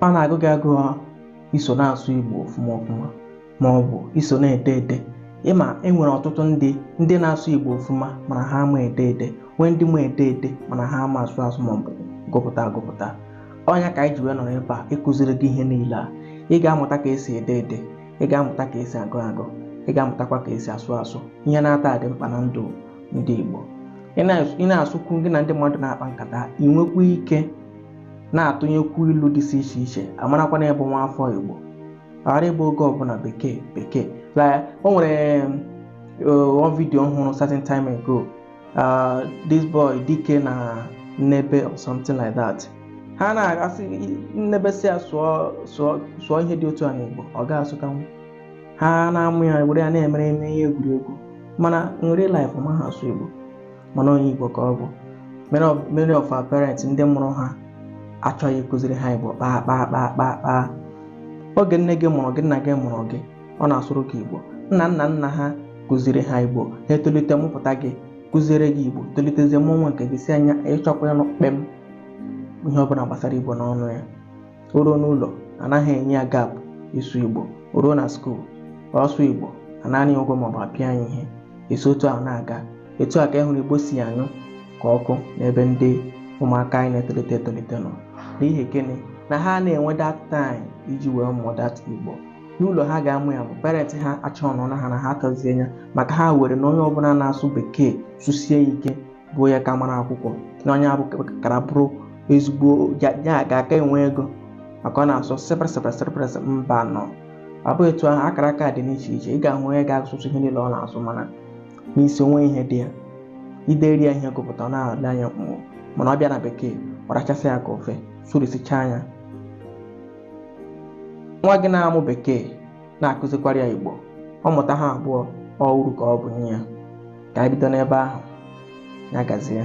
ọ na-agụ gị agụ iso na-asụ Igbo ọfụma ọfụma ma ọ bụ iso na-ede ede ị ma e nwere ọtụtụ ndị ndị na-asụ Igbo ọfụma mana ha ama ede ede nwee ndị ma ede ede mana ha ama asụ asụ ma ọ bụ gụpụta agụpụta ọ nya ka anyị ji wee nọrọ ebe a ịkụziri gị ihe niile a ị ga-amụta ka esi ede ede ị ga-amụta ka esi agụ agụ ị ga-amụtakwa ka esi asụ asụ ihe n'atọ a dị mkpa na ndụ ndị Igbo ị na- ị na-asụkwu gị na ndị mmadụ na-akpa nkata ị nwekwa ike na-atụnyekwu ilu dịsị iche iche a marakwa na ị bụ nwa afọ Igbo ghara ịbụ oge ọbụla bekee bekee Like, o nwere uh, one video m hụrụ certain time ago uh, this boy dike na nnebe or something like that ha na-asị nnebe sị ya sụọ sụọ sụọ ihe dị otu a n'Igbo ọ ga-asụtanwu ha na-amụ ya were ya na-emere eme ihe egwuregwu mana in real life ọ maha asụ Igbo mana onye Igbo ka ọ bụ many of many of our parents ndị mụrụ ha achọghị ịkụziri ha Igbo kpaa kpaa kpaa kpaa kpaa oge nne gị mụrụ gị nna gị mụrụ gị ọ na-asụrụ gị Igbo nna nna nna ha kụziri ha Igbo ha etolite mụpụta gị kụziere gị Igbo tolitezie mụọ nwa nke gị sị na ya achọkwa ịnụ kpem ihe ọbụla gbasara Igbo n'ọnụ ya o ruo n'ụlọ anaghị enye ya gap ịsụ igbo o ruo na skuul ọ sụọ igbo a naa ya ụgwọ maọbụ a pịa ya ihe e si otu ahụ na-aga etu a ka ị hụrụ igbo si anyụ ka ọkụ n'ebe ndị ụmụaka anyị na-etolite etolite nọ n'ihi gịnị na ha ana-enwe that time iji wee mụọ that igbo n'ụlọ ha ga-amụ ya bụ parents ha achọrọ na ha na ha kọzie ya maka ha were na onye ọbụla na-asụ bekee sụsie ike bụ ya ka mara akwụkwọ na onye ahụ kara bụrụ ezigbo ya ya ga-aka enwe ego maka ọ na-asụ sịpịrịsịpịrịsịpịrịsị mba nụ ọ bụghị etu ahụ akara aka dị n'iche iche ị ga-ahụ onye ga-asụsị ihe niile ọ na-asụ mana n'isi o nwe ihe dị ya i dere ya ihe gụpụta ọ na-ele anya mkpụrụ mana ọ bịa na bekee ọ rachasịa ya ka ofe sụrisichaa nya nwa gị na-amụ bekee na-akụzikwara ya Igbo ọ mụta ha abụọ ọ uru ka ọ bụ nye ya ka anyị bido n'ebe ahụ ya gazie